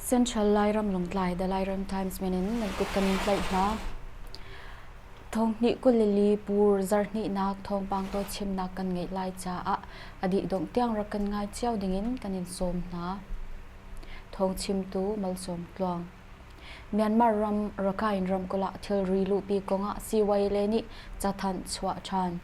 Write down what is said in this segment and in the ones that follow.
Central Lairam Longtlai The Lairam Times men in nan kut kan tlaih hna. Thong hnih kulili pur zar hnih nak thong pang to chim nak kan ngei lai ca ah adi dong tiang ra kan ngai cio ding in kan in sawm hna. Thong chim tu malsawm tluang. Myanmar ram Rakhine ramkulh ah thilri luhpi kong ah CYA nih cathanh chuah ṭhan.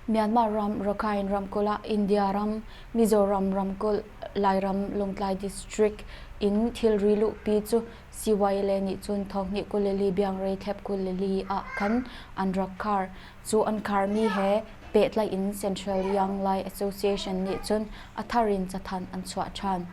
Myanmar ram Rakhine ramkulh ah India ram, Mizoram ramkulh, Lairam Lawngtlai district in thilri luhpi cu CYA nih cun thawkni kulili biangrei thep kulili ah khan an rak khar. Cu an kharmi he pehtlaih in Central Yang Lai Association nih cun a thar in cathanh an chuah ṭhan.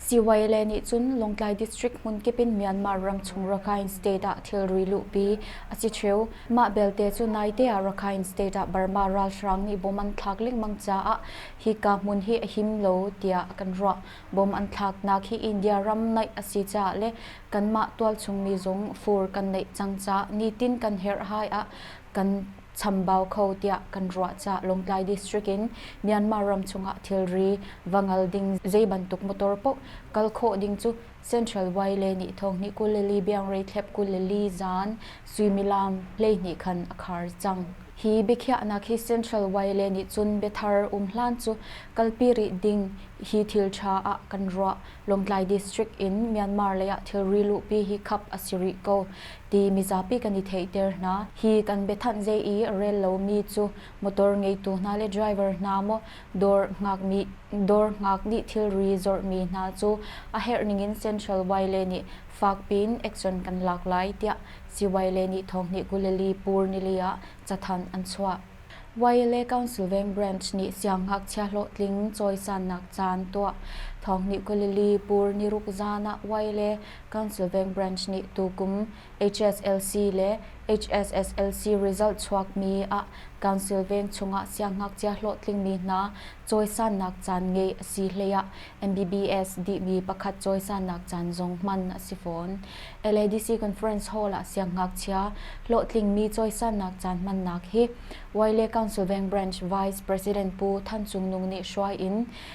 Siwaile nih cun Lawngtlai District hmunkip in Myanmar ramchung Rakhine State ah thilri luhpi a si ṭheu. Mah belte cu naite ah Rakhine State ah Burma ralhrang nih bom an thlak lengmang caah hika hmun hi a him lo tiah kan ruah. Bom an thlaknak hi India ram naih a si caah le kanmah tualchung mi zong fur kan neih cang caah nitin kan herhhai ah kan chambau kho tiah kan ruah ca Lawngtlai District in Myanmar ram chungah thilri va ngal ding zeibantuk motor paoh kal khawh ding cu Central Way le nih thonghnih kulili biangrei thlep kulili zaan suimilam hleihnih khan a khar cang. Hi biakhiahnak hi Central Way le nih cun biathar um hlan cu kalpi rih ding hi thil ṭha ah kan ruah. Lawngtlai District in Myanmar leiah thilri luhpi hi khap a si rih ko. ti mizapi kan i theihter hna. Hi kan biathanh zei i rel lomi cu motor ngeitu hna le driver hna maw dawr ngakmi dawr ngak nih thilri zorhmi hna cu a herh ningin Central Vaiile nih fakpiin action kan lak lai tiah Sivaile nih thawngnih Guleli pur nili ah cathanh an chuah. Vaiile Council Veng Branch nih siangngakchia hlawhtling cawisannak caan tuah thawngnih Guleli pur niruk zaan ah Vaiile Councilveng branch nih tukum HSLC le HSSLC result chuakmi ah Council veng chungah siangngakchia hlawhtlingmi hna cawisannak caan ngei a si hleiah MBBS dihmi pakhat cawisannak caan zong hman a si fawn. LADC Conference Hall ah siangngakchia hlawhtlingmi cawisannak caan hmannak hi Wyle Councilveng Branch Vice President Pu Than Cung Nung nih hruai in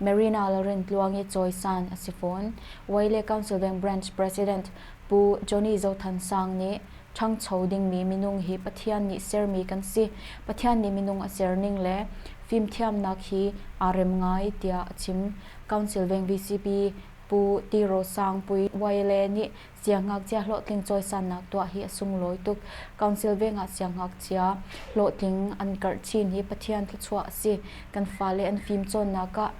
Marina Laurentluang i cawisan a si fawn. Wai le Council Bank Branch President Pu Johnny Zo Than Sang nih ṭhangcho dingmi minung hi Pathian nih sermi kan si. Pathian nih minung a serning le fimthiamnak hi aa rem ngai tiah a chim. Council Bank VCP Pu Ti Ro Sang Pui Wai le nih Siangngakchia hlawhtling cawisannak tuah hi a sunglawi tuk. Council veng ah siangngakchia hlawhtling an karh chin hi Pathian thluachuah a si. Kan fale an fimcawnnak ah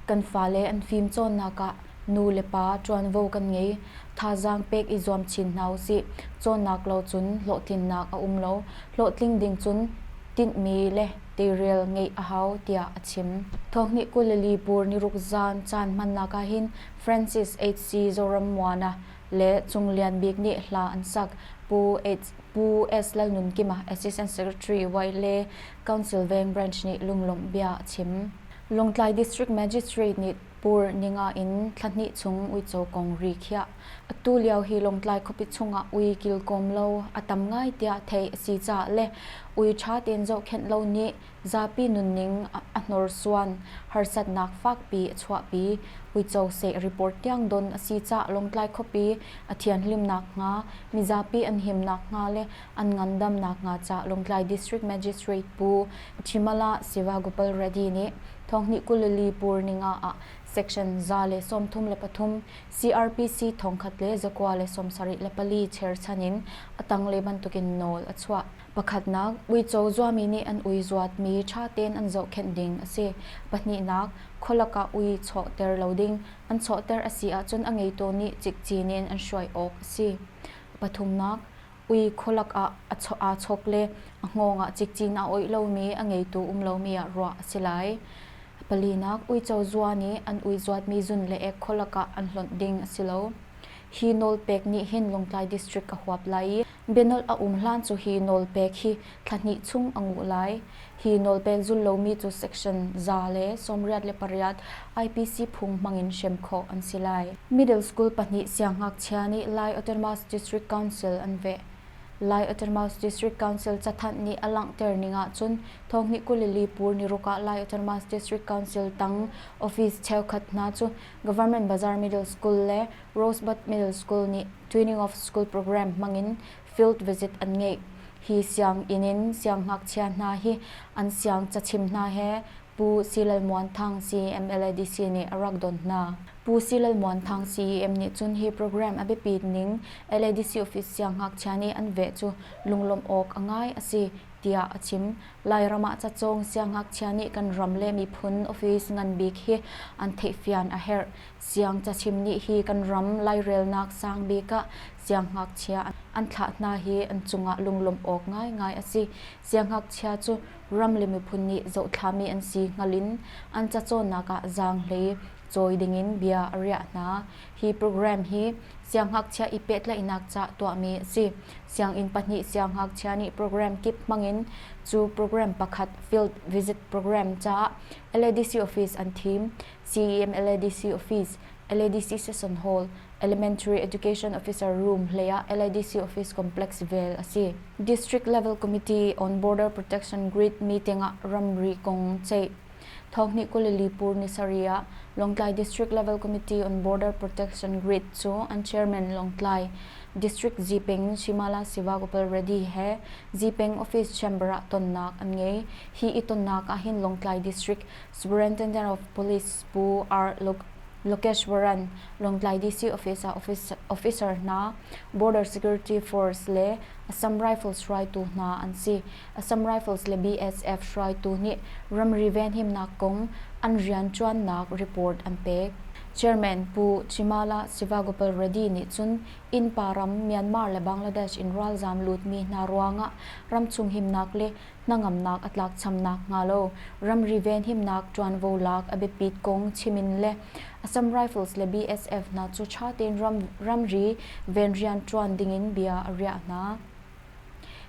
kan fale an fimcawnnak ah nu le pa ṭuanvo kan ngei. Thazaang pek i zuam chin hna u sih. Cawnnak lo cun hlawhtlinnak a um lo. Hlawhtling ding cun tinhmi le teirel ngeih a hau tiah a chim. Thawngnih kul le li pur niruk zan caan hmannak ahhin Francis HC Zorammuana le Cung Lian Bik nih hla an sak. Pu Pu S Lalnunkima, Assistant Secretary Wai le Council Veng Branch nih lunglawmh bia a chim. Lawngtlai District Magistrate nih Pur Ninga in thla hnih chung uico kong ri khiah. Atu lio hi Lawngtlai khuapi chungah ui kilkawm lo a tam ngai tiah theih a si caah le ui ṭha tein zohkhenh lo nih zapi nunning a hnorsuan, harsatnak fakpi a chuahpi, uico seh report tiang don a si caah Lawngtlai khuapi a thianhlim nakhnga, mizapi an him nakhnga le an ngandam nakhnga caah Lawngtlai District Magistrate Pu Thimala Sivagopaal Reddy nih Thawngnih kulili pur ningah ah section za le sawmthum le pathum, CRPC thongkhat le zakua le sawmsarih le pali cherchan in a tanglei bantukin nawl a chuah. Pakhatnak, uico zuami nih an ui zuatmi ṭha tein an zohkhenh ding a si. Pahnihnak, khualak ah ui chawhter lo ding an chawhter a si ahcun a ngeitu nih cikcin in an hruai awk a si. Pathumnak, ui khualak ah aa chawk le a hngawng ah cikcin aa oih lomi a ngeitu um lomi ah ruah a si lai. Palinak, uico zua nih an ui zuatmi zun le ek khualak ah an hlonh ding a si lo. Hi nawlpek nih hin Lawngtlai District a huap lai i Bianolh a um hlan cu hi nawlpek hi thla hnih chung a nguh lai. Hi nawlpek zul lomi cu section za le sawmriat le pariat IPC phung hmangin hrem khawh an si lai. Middle school pahnih siangngakchia nih Lai Autonomous District Council an veh. Lai Autonomous District Council cathanh nih a langhter ning ahcun thonghnih kulili pur niruk ah Lai Autonomous District Council tang office cheukhat hna cu Government Bazaar Middle School le Rosebud Middle School nih training of school program hmangin field visit an ngeih. Hi sianginn in sianghngakchia hna hi an siangcachim hna he Pu Silal Muan Thang CMLADC nih a rak don hna. Pu Silal Muan Thang CEM nih cun hi program a biapit ning LADC office sianghngakchia nih an veh cu lunglawmh awk a ngai a si, tiah a chim. Lairam ah cacawng sianghngakchia nih kan ram le miphun office ngan bik hi an theihfian a herh. Siang cachim nih hi kan ram lairelnak sang bik ah sianghngakchia an thlah hna hi an cungah lunglawmh awk ngaingai a si. Sianghngakchia cu ram le miphun nih zohtlami an si hngal in an cacawnnak ah zaanghlei cawi dingin bia a riah hna. Hi program hi sianghngakchia i pehtlaihnak ca tuahmi a si. Sianginn pahnih sianghngakchia nih program kip hmangin cu program pakhat field visit program caah LADC office an thim. CEM LADC office, LADC Session Hall, Elementary Education Officer Room hleiah LADC Office Complex vel a si. District Level Committee on Border Protection Grid meeting ah ramri kong ceih. Thawkni Kulilipur ni saria Longtlai District Level Committee on Border Protection Grid cu an chairman Longtlai District Zipeng Shimala Sivakopal Reddy he Zipeng Office Chamber ah tonnak an ngei. Hi i tonnak ah hin Longtlai District Superintendent of Police Pu R. Lokeshwaran, Lawngtlai DC Office ah officer hna, Border Security Force le Assam Rifles hruaitu hna an si. Assam Rifles le BSF hruaitu nih ramri venhimnak kong an rianṭuannak report an pek. Chairman Pu Chimala Sivagopal Reddy nih cun innpa ram Myanmar le Bangladesh in ralzam lutmi hna ruangah ramchung himnak le hnangamnak a tlakcham nakhnga lo ramri venhimnak ṭuanvo lak a biapit kong chim in le Assam Rifles le BSF hna cu ṭha tein ramri venrian ṭuan dingin bia a riah hna.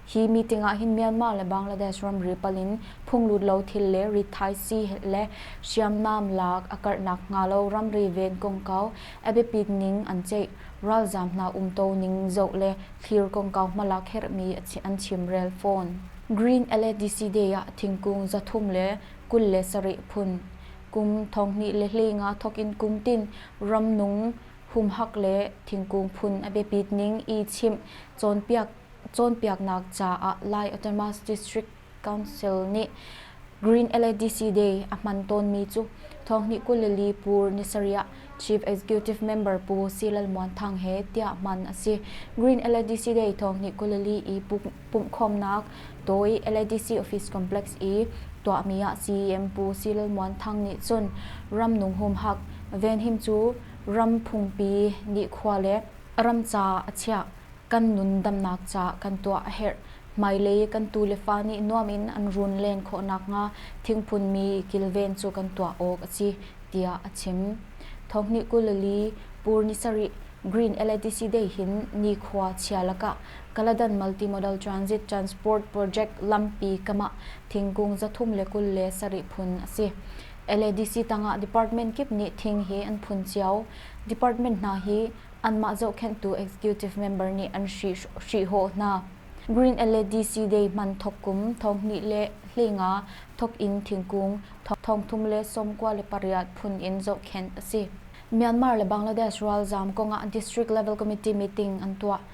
Hi meeting ah hin Myanmar le Bangladesh ramri pal in phunglut lo thil le rit thaisii le hriamnam lak a karh nakhnga lo ramri ven kongkau a biapit ning an ceih ralzaam hna umto ning zoh le thlir kongkau hmal ah kherhmi an chimrel fawn. Green LADC Day ah thingkung za thum le kul le sarih phun, kum thonghnih le hlei nga thawk in kumtin ram nung humhak le thingkung phun a biapit ning i chimh cawnpiaknak caah Lai Autonomous District Council nih Green LADC Day a hman tawnmi cu thawngnih kul le li pur nisarih ah Chief Executive Member Pu Silal Muan Thang he tiah hman a si. Green LADC Day thawngnih kul le li i pumhkhawmnak tawi LADC Office Complex i tuahmi ah CEM Pu Silal Muan Thang nih cun ram nung humhak venhim cu ram phungpi nih khua le ram ca a chiah kan nun damnak ca kan tuah a herh. Hmailei kan tu le fa nih nuam in an run len khawh nakhnga thingphunmi kilven cu kan tuah awk a si, tiah a chim. Thawngnih kulili, pur ni sarih, Green LATC Day hin nikhua chia lakah Kaladan Multimodal Transit Transport Project lampi kamah thingkung zathum le kul le sarih phun a si. LADC tangah department kip nih thing hi an phun cio. Department hna hi anmah zohkhenhtu executive member nih an hrihhawh hna. Green le DC Day hman thawk kum thonghnih le hlenga thawk in thingkung thongthum le sawmkua le pariat phun in zohkhenh a si. Myanmar le Bangladesh ralzam kongah district level committee meeting an tuah.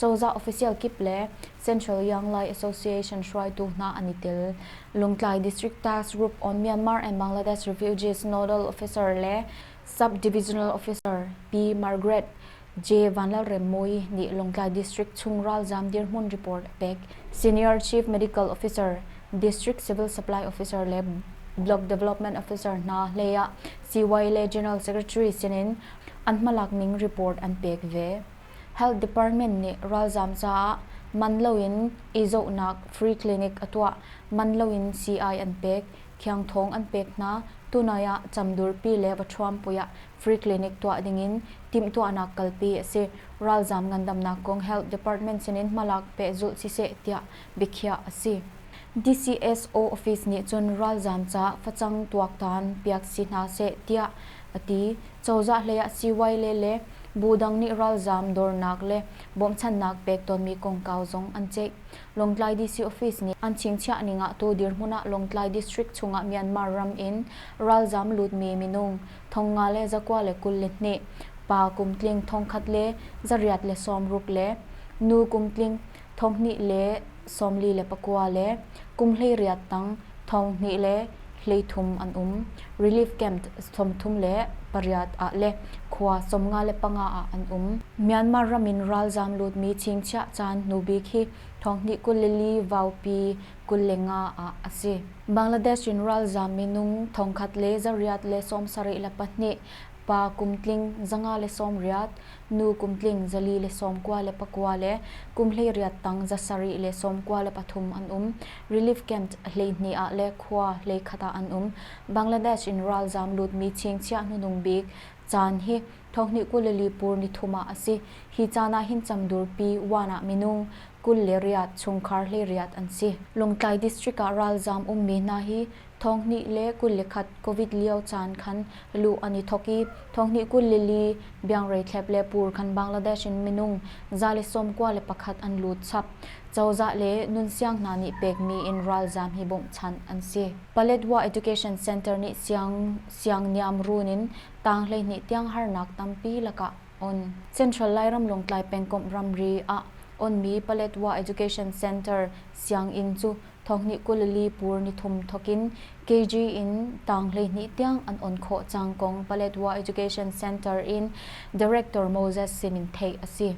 Cozah official kip le Central Young Lai Association hruaitu hna an i tel. Lungtlai District Task Group on Myanmar and Bangladesh Refugees Nodal Officer le Sub-Divisional Officer Pi Margaret J. Vanlalremmui nih Lungtlai District chung ralzaam dirhmun report a pek. Senior Chief Medical Officer, District Civil Supply Officer le Block Development Officer hna hlei ah CY le General Secretary sinin an hmalakning report an pek ve. Health Department nih ralzaam caah man loin i zohnak free clinic a tuah, man loin sii-ai an pek, khiangthawng an pek hna, tunai ah camdurpi le vathuampui ah free clinic tuah dingin timhtuahnak kalpi a si. Ralzaam ngandamnak kong Health Department sinin hmalak pehzulh siseh tiah biakhiah a si. DCSO office nih cun ralzaam ca facang tuaktan piak si hna seh tiah a ti. Cozah hleiah siivailet le bu dang nih ralzaam dornak le bawmchannak pek tawnmi kongkau zong an ceih. Lawngtlai DC office nih an chingchiah ning ah tu dirhmun ah Lawngtlai district chungah Myanmar ram in ralzaam lutmi minung thong nga le zakua le kul le hnih, pa kum tling thongkhat le za riat le sawm ruk le nu kum tling thonghnih le sawmli le pakua le kum hleiriat tang thonghnih le hleithum an um. Relief Camp sawmthum le pariat ah le khua sawmnga le panga ah an um. Myanmar ram in ralzam lutmi chingchiah caan hnubik hi thonghnih kul le li vaupi kul le nga ah a si. Bangladesh in ralzam minung thongkhat le zariat le sawmsarih le pahnih pa kum tling zanga le sawm riat, nu kum tling zali le sawm kua le pakua le kum hlei riat tang za sarih le sawm kua le pathum an um. Relief camp hleihnih ah le khua hleikhat ah an um. Bangladesh in ralzam lutmi chingchiah hnunung bik caan hi thawhni kul le lipur nithum ah a si. Hi caan ah hin changdurpi wan ah minung kul le riat chungkhar hlei riat an si. Lawngtlai district ah ralzam ummi hna hi Thonghnih le kul le khat Covid lio caan khan luh an i thawk i thonghnih kul le li biangreithlep le pur khan Bangladesh in minung za le sawm kua le pakhat an lut chap. Cozah le nunsiang hna nih pekmi in ralzam hi bawmhchanh an si. Paletwa Education Center nih siang siang niamrun in tang hleihnih tiang harnak tampi lakah on. Central Lairam Lawngtlai pengkomh ramri ah onmi Paletwa Education Center sianginn cu Thawkhnih kulili pur nithum thokin KG in tang hleihnih tiang an on khawh cang kong Paletwa Education Center in Director Moses Simin theih a si.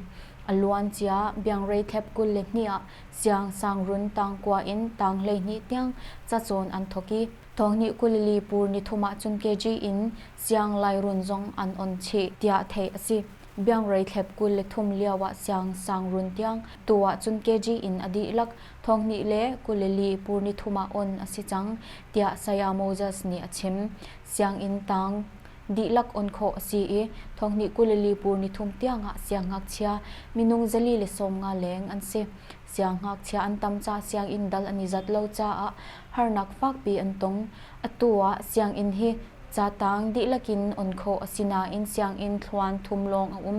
A luancia biangreithlep kul le hnih ah siangsangrun tangkua in tang hleihnih tiang cacawn an thawk i, thawkhnih kulili pur nithum ahcun KG in sianglai-run zong an on chih, tiah theih a si. Biangreithlep kul le thum lioah siangsangrun tiang tu ahcun KG in a dihlak Thonghnih le kuleli pur nithum ah on a si cang, tiah Saya Moses nih a chim. Sianginn tang dihlak on khawh a si i thonghnih kuleli pur nithum tiangah siangngakchia minung zali le sawmnga leng an si. Siangngakchia an tam caah sianginn dal an i zat lo caah harnak fakpi an tong. Atu ah sianginn hi ca tang dihlak in on khawh a si nain sianginn thluan thum lawng a um.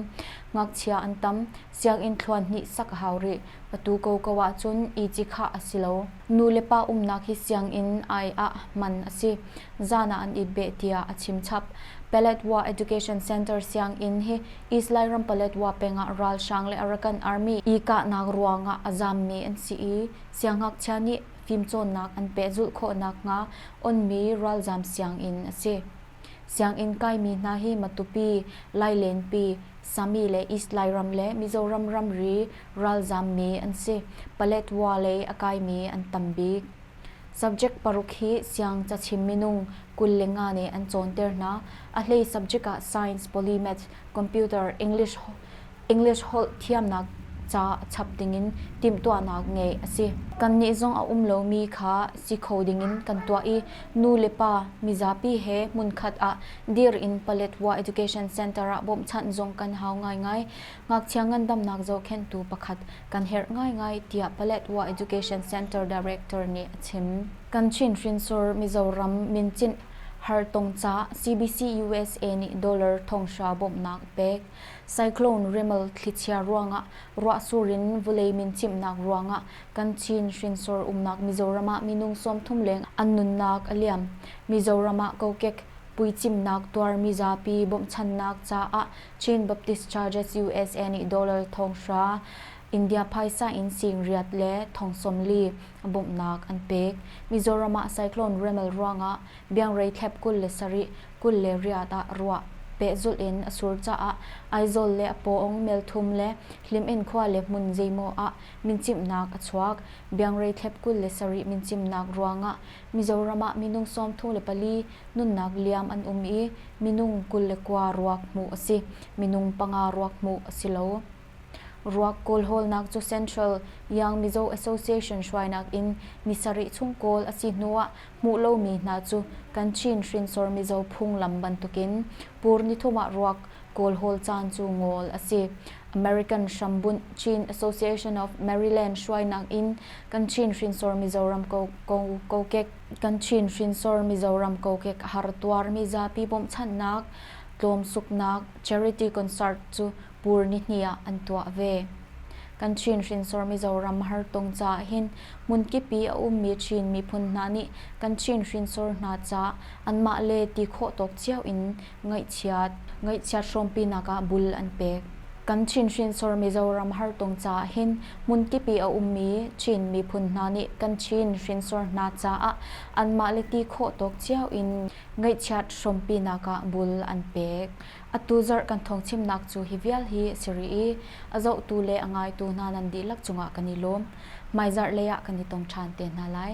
Ngakchia an tam, Sianginn thluanhnih sak a hau rih. Atu koko ahcun iti khah a si lo. Nu le pa umnak hi sianginn ai ah man a si. Zan ah an it beh tiah a chimchap. Paletwa Education Center sianginn hi East Lairam Paletwa peng ah ralhrang le Arakan Army i kahnak ruang ah a zammi an si i siangngakchia nih fimcawnnak an pehzulh khawh nakhnga onmi ralzam sianginn a si. Sianginn kaimi hna hi Matupi, Lailenpi, Sami le East Lairam le Mizoram ramri ralzaam mi an si. Paletwa lei a kaimi an tam bik. Subject paruk hi siang cachim minung kul le nga nih an cawnter hna. A hlei subject ah Science, Polymath, Computer, English, English holh thiamnak ca chap dingin timhtuahnak ngeih a si. Kannih zong a um lomi kha si kho dingin kan tuah i nu le pa mizapi he hmunkhat ah dir in Paletwa Education Center ah bawmhchanh zong kan hau ngaingai. Ngakchia ngandamnak zohkhenhtu pakhat kan herh ngaingai tiah Paletwa Education Center Director nih a chim. Kan Chinhrinsor Mizoram Minchinh Hartong ca CBC-USA nih dollar thonghra bawmhnak a pek. Cyclone rimal thlichia ruangah ruahsur in vawlei min chimhnak ruangah kan Chin hrinsor umnak Mizoram ah minung sawmthum leng an nunnak a liam. Mizoram ah kokek puicimnak tuar mizapi bawmhchannak caah Chin Baptist Churches USA nih dollar thonghra, India phaisa in singriat le thong sawm li bawmhnak an pek. Mizoram ah cyclone rimal ruangah Biangray thlep kul le sarih, kul le riat ah ruah, pehzulh in a sur caah Aizawl le a pawng melthum le Hlimen khua le hmun zeimaw ah mincimhnak a chuak. Biangray thlep kul le sarih mincimnak ruangah Mizoram ah minung sawmthu le pali nunnak liam an um i minung kul le kua ruak hmuh a si. Minung panga ruak hmuh a si lo. Ruak kawlhawlnak cu Central Yang Mizo Association hruainak in ni sarih chung kawl a si hnu ah hmuh lomi hna cu kan Chin hrinsor mizaw phunglam bantukin pur nithum ah ruak kawlhawl caan cu ngol a si. American hrambunh Chin Association of Maryland hruainak in kan Chin hrinsor mizoram kokek kan Chin hrinsor mizoram kokek har tuarmi zapi bawmhchanhnak tlawmsuknak charity concert cu pur nihnih ah an tuah ve. Kan Chin hrinsor Mizoram Hartong ca ah hin hmunkipi a ummi Chin miphun hna nih kan Chin hrinsor hna caah anmah le ti khawh tawk cio in ngaihchiat, ngaihchiat hrawmpinak ah bul an pek. Kan Chin hrinsor Mizoram Hartong ca ah hin hmunkipi a ummi Chin miphun hna nih kan Chin hrinsor hna caah anmah le ti khawh tawk cio in ngaihchiat hrawmpinak ah bul an pek. Atu zarh kan thawngchimnak cu hi vial hi a si rih i a zohtu le a ngaitu hna nan dihlak cungah kan i lawm. Hmaizarh lei ah kan i tong ṭhan te hna lai.